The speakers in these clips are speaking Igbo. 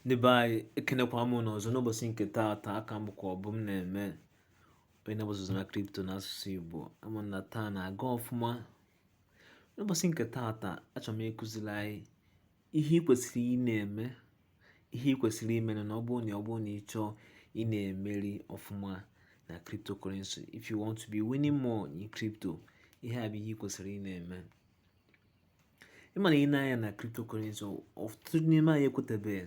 ndị be anyị ekenekwa m ụnụ ọzọ n'ụbọchị nke taata aka m bụkwa Ọbụmneme onye na-agbasa ozi na kripto na asụsụ igbo ama m na taa na-aga ọfụma n'ụbọchị nke taata achọrọ m ịkụziri anyị ihe ị kwesịrị ị na-eme ihe ị kwesịrị ime na ọ bụrụ na ọ bụrụ na ị chọọ ị na-emeri ọfụma na cryptocurrency if you want to be winning more in crypto ihe a bụ ihe ị kwesịrị ị na-eme ị ma na i nee anya na cryptocurrency ọtụtụ n'ime anyị ekwetabeghị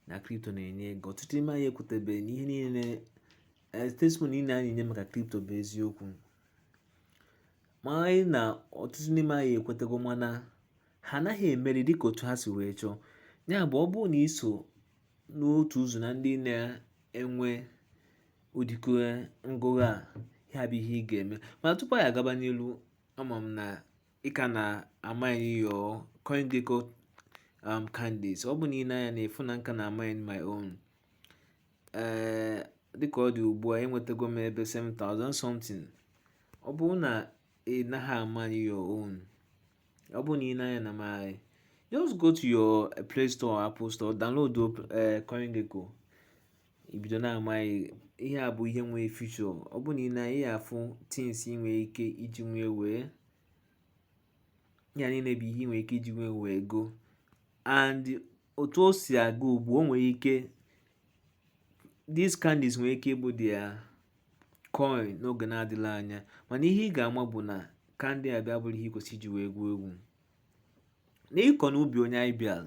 na kripto na-enye ego ọtụtụ n'ime anyị ekwetabeghị na ihe niile eh, testimony niile anyị nye maka kripto bụ eziokwu mana ọtụtụ n'ime anyị ekwetago mana ha anaghị emeri dịka otu ha si wee chọọ ya bụ ọ bụrụ na i so n'otu ụzọ na ndị na-enwe ụdịkọ ngụgha a ya bụ ihe ị ga-eme mana tupu anyị agaba n'iru Ama m na ị ka na-amine your CoinGecko um, candies ọ bụ na i nee anya ị fụ na m ka na-amine my own ee dịka ọ dị ugbu a enwetago m ebe 7000 something ọ bụrụ na ị naghị amine your own ọ bụ na i nee anya na my just go to your Play Store or Apple Store download uh, CoinGecko ibido na-amine ihe a bụ ihe nwee future ọ bụ na i nee ị ya-afụ things ị nwere ike iji wee nwee ya niile bụ ihe ị nwere ike iji wee nwee ego and otu o si aga ugbu a o nwere ike these candies nwere ike ịbụ their coin n'oge na-adịrọ anya mana ihe ị ga-ama bụ na candy a abụrọ ihe i kwesịrị iji wee egwu egwu n'ịkọ n'ubi onye anyị bịara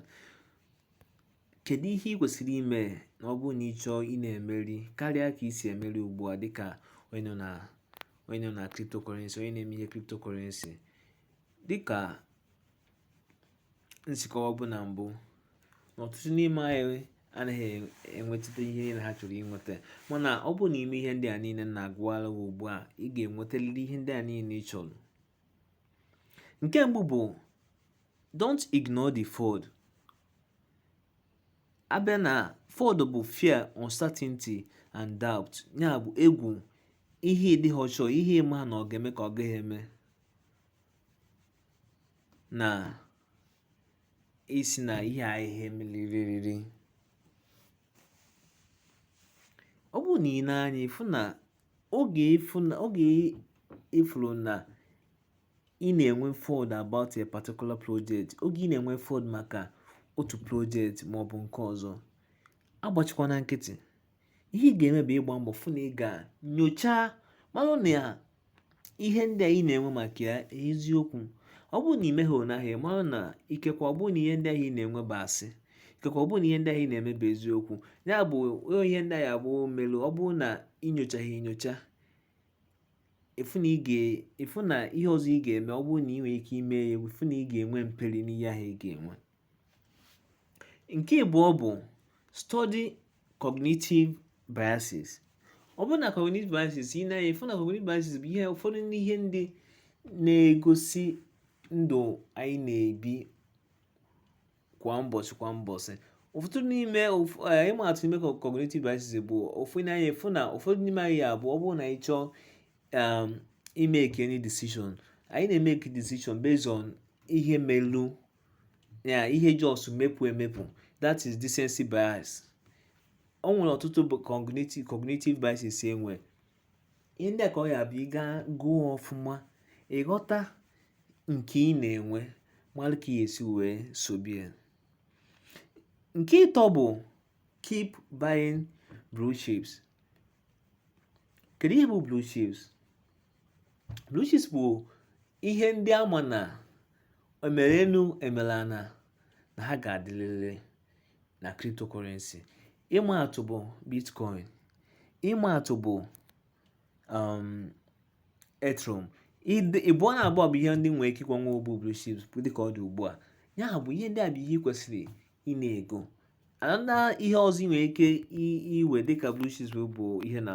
Kedu ihe ị kwesịrị ime na ọ bụrụ na ị chọọ ị na-emeri karịa ka i si emeri ugbu a dịka onye nọ na onye nọ na cryptocurrency onye na-eme ihe cryptocurrency dịka m si kọwabu na mbụ na ọtụtụ n'ime anyị anaghị enweta ihe niile ha chọrọ inweta mana ọ bụrụ na i mee ihe ndị a niile m na-agwa gị ugbu a ị ga-enwetaliri ihe ndị a niile ị chọrọ nke mbụ bụ Don't ignore the FUD. A bịa na FUD bụ fear, uncertainty and doubt. Ya bụ egwu, ihe ị dịghị sure, ihe ị ma na ọ ga-eme ka ọ gaghị eme. Na-asị na ihe a ya-emeriri. Ọ bụ na i nee anya ịfụ na oge ịfụ na oge ịfụrụ na ị na-enwe FUD about a particular project oge ị na-enwe FUD maka otu project maọbụ nke ọzọ agbachikwana nkịtị ihe ị ga-eme bụ ịgba mbọ fụ na ị ga nyochaa malụ na ya ihe ndị a ị na-enwe maka ya eziokwu ọ bụrụ na ị meghị ụnahụ mara na ikekwa ọ bụrụ na ihe ndị ahụ ị na-enwe bụ asị ikekwa ọ bụrụ na ihe ndị ahụ ị na-eme bụ eziokwu ya bụ ihe ndị ahụ abụọ melu ọ bụrụ na ị nyochaghị enyocha ị fụ na ị fụ na ihe ọzọ ị ga-eme ọ bụrụ na ị nwere ike ime ya ị fụ na ị ga-enwe mperi n'ihe ahụ ị ga-enwe nke ịbụọ bụ study cognitive biases ọ bụrụ na cognitive biases ị na-anya ị fụ na cognitive biases bụ ihe ụfọdụ n'ihe ndị na-egosi ndụ anyị na-ebi kwa mbọsị kwa mbọsị ụfọdụ n'ime eh, ịma atụ n'ime cognitive biases bụ ofu n'anya ị fụ na ụfọdụ n'ime anyị ya bụ ọ bụrụ na anyị chọọ um, imeke any decision anyị na-emeke decision based on ihe melu ya ihe just mepụ emepụ that is recency bias o nwere ọtụtụ bụ cognitive cognitive biases enwe ihe ndị a ka ọ ya-abụ ị gụọ ọfụma ị ghọta nke ị na-enwe malụ ka ị ya-esi wee solve ya nke ịtọ bụ keep buying blue chips kedu ihe bụ blue chips blue chips bụ ihe ndị a ma na emere enu emere ana na ha ga-adịlịlị na cryptocurrency ịma atụ bụ bitcoin ịma atụ bụ um, ethereum ịbụọ na abụọ bụ ihe ndị nwere ike ịkwanwe ụbụ blue chips dịka ọ dị ugbu a ya bụ ihe ndị a bụ ihe i kwesịrị ị na-ego and ihe ọzọ ị nwere ike iwe dịka blue chips bụ ihe na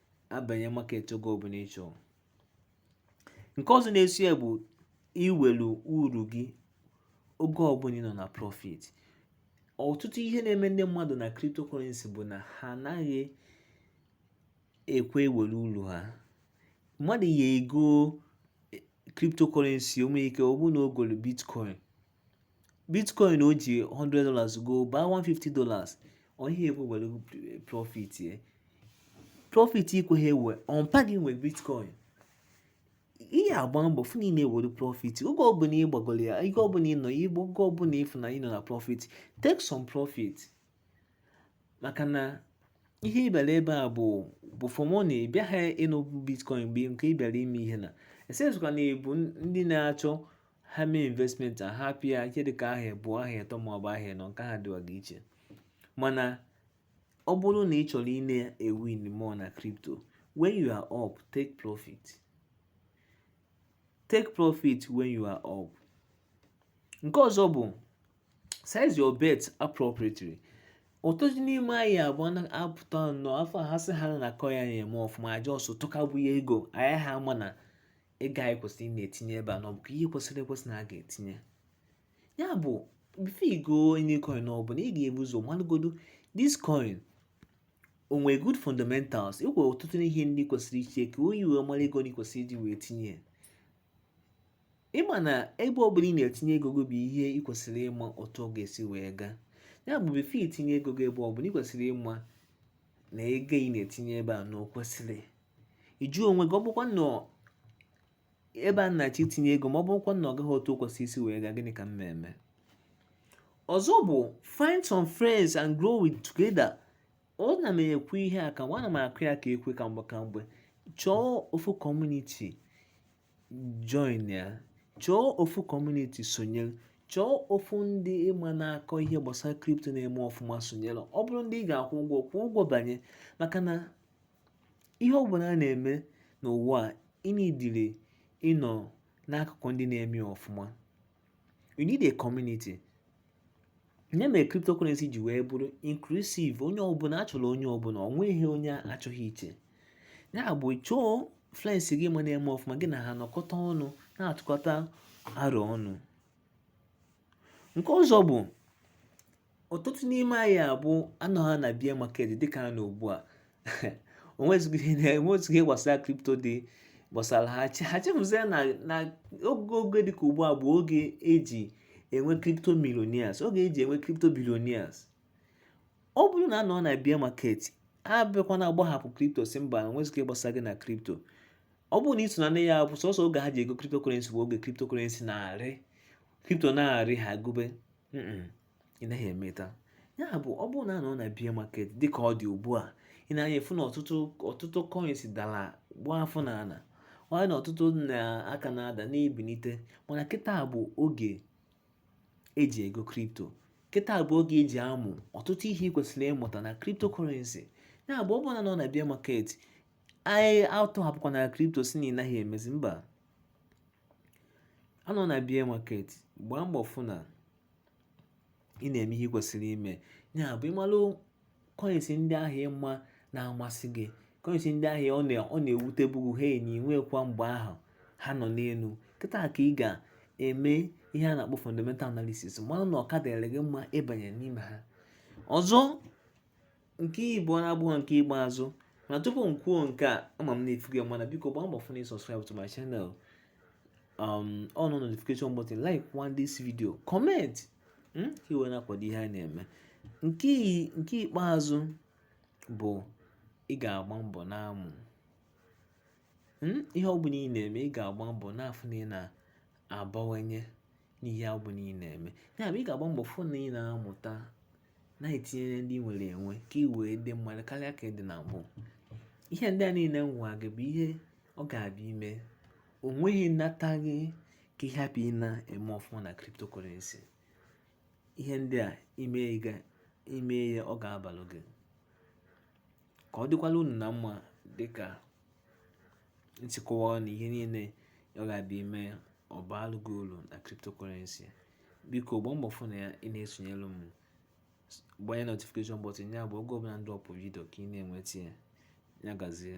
abanye market oge ọbụla ị chọrọ nke ọzọ na-eso ya bụ iwelu uru gị oge ọbụla ị nọ na profit ọtụtụ ihe na-eme ndị mmadụ na cryptocurrency bụ na ha anaghị ekwe ewere uru ha mmadụ ya ego cryptocurrency o nwere ike ọ bụrụ na o golu bitcoin bitcoin o ji 100 dollars go baa 150 dollars onye ekwe were profit ye profit ikweghị ewe ọ mpa gị nwe bitcoin ị ya-agba mbọ fụ na ị na-ewere profit oge ọbụla ị gbagoro ya ike ọbụla ị nọ ya igbo oge ọbụla ịfụ na ị nọ na profit take some profit maka na ihe ị bịara ebe a bụ for money ị bịaghị ịnụ bitcoin mgbe nke ị bịara ime ihe na esezụka na ebu ndị na-achọ ha mee investment a hapụ ya ihe dịka ahọ abụọ ahọ ịtọ maọbụ ahọ ịnọ nke ha dịwaga iche mana ọ bụrụ na ị chọrọ ị na-ewin more na crypto when you are up take profit take profit when you are up nke ọzọ bụ size your bet appropriately ọtụtụ n'ime anyị abụọ na-apụta nnọọ afọ ha sị ha na coin a na-eme ọfụma aja ọsọ tụkabụ ya ego anyị ha ama na ego anyị kwesịrị ị na-etinye ebe a na ọ bụ ihe kwesịrị ekwesị na a ga-etinye ya bụ before ị goo any coin ọ bụla ị ga-ebu ụzọ malụgodo this coin o nwere good fundamentals e nwere ọtụtụ ihe ndị kwesịrị iche ka onye wee mara ego ndị kwesịrị iji wee tinye ya ịma na ebe ọ bụla ị na-etinye ego gị bụ ihe ị kwesịrị ịma otu ọ ga-esi wee gaa ya bụ before i tinye ego gị ebe ọ bụla ị kwesịrị ịma na ego ị na-etinye ebe a na o kwesịrị ịjụ onwe gị ọ bụkwanụ ebe a m na-achọ itinye ego m ọ bụkwanụ ọ gaghị otu o kwesịrị isi wee gaa gịnị ka m na-eme ọzọ bụ find some friends and grow together ana m ekwu ihe a ka ana m akụ ya ka ekwe kwa mgbe kwa mgbe chọọ ofu community join ya chọọ ofu community sonyere chọọ ofu ndị ị ma na-akọ ihe gbasara crypto na-eme ọfụma sonyere ọ bụrụ ndị ị ga-akwụ ụgwọ kwụọ ụgwọ banye maka na ihe ọ bụla a na-eme n'ụwa a ị nidiri ịnọ n'akụkụ ndị na-eme ọfụma you need a community ihe mere cryptocurrency ji wee bụrụ inclusive onye ọbụla a chọrọ onye ọbụla ọ nweghị onye a chọghị iche ya bụ chọọ friends gị ị ma na-eme ọfụma gị na ha nọkọta ọnụ na-atụkọta aro ọnụ nke ọzọ bụ ọtụtụ n'ime anyị a bụ a nọ ha na bear market dịka a nọ ugbu a o nwezighị ihe gbasara crypto dị gbasara ha ha chefuzie na na oge oge dịka ugbu a bụ oge e ji enwe crypto millionaires oge e ji enwe crypto billionaires ọ bụrụ na a nọ na bear market abịakwana agbahapụ crypto sị mba o nwezighị ihe gbasara gị na crypto ọ bụrụ na i so na ndị ya bụ sọsọ oge ha ji ego cryptocurrency bụ oge cryptocurrency na-arị crypto na-arị ha gobe ị naghị emeta ya bụ ọ bụrụ na a nọ na bear market dịka ọ dị ugbu a ị nee anya ị fụ na ọtụtụ ọtụtụ coins dara gbaa afọ n'ana nwaanyị na ọtụtụ ka na-ada na-ebinite mana kịta bụ oge e ji ego crypto kịta bụ oge e ji amụ ọtụtụ ihe ị kwesịrị ịmụta na cryptocurrency ya bụ ọ bụrụ na a nọ na bear market anyị atọhapụkwana crypto sị na ị naghị emezi mba a nọ na bear market gbaa mbọ fụ na ị na-eme ihe kwesịrị ime ya bụ ịmalụ coins ndị ahụ ị ma na-amasị gị coins ndị ahụ ọ na-ewutebu gị na i nwekwa mgbe ahụ ha nọ n'elu kịta ka ị ga-eme ihe a na-akpọ fundamental analysis malụ na ọ ka dịrị gị mma ịbanye n'ime ha ọzọ nke igbo abụọ nke ikpeazụ na tupu m kwuo nke a ama m na ị fụgo mana biko gbaa mbọ fụ na ị subscribe to my channel um on notification button like one this video comment hmm, ka ị wee na-akwado ihe a na-eme nke ikpeazụ bụ ị ga-agba mbọ na-amụ hmm, ihe ọ bụla ị na-eme ị ga-agba mbọ na-afụ na ị na-abawanye n'ihe ọ bụla ị na-eme ya bụ ị ga-agba mbọ fụ na ị na-amụta na-etinyere ndị ị nwere enwe ka ị wee dị mma karịa ka ị dị na mbụ ihe ndị a niile m gwa gị bụ ihe ọ ga-abụ ị mee o nweghị nata gị ka ị hapụ ị na-eme ọfụma na cryptocurrency ihe ndị a ị mee ya ọ ga-abalụ gị ka ọ dịkwala unu na mma dị ka m si kọwaa na ihe niile ọ ga-abụ ị mee ọ baalụ gị ulu na cryptocurrency biko gbaa mbọ fụ na ya ị na-esonyelu m gbanye notification button ya bụ oge ọbụla m dropụ vidio ka ị na-enweta ya ya gazie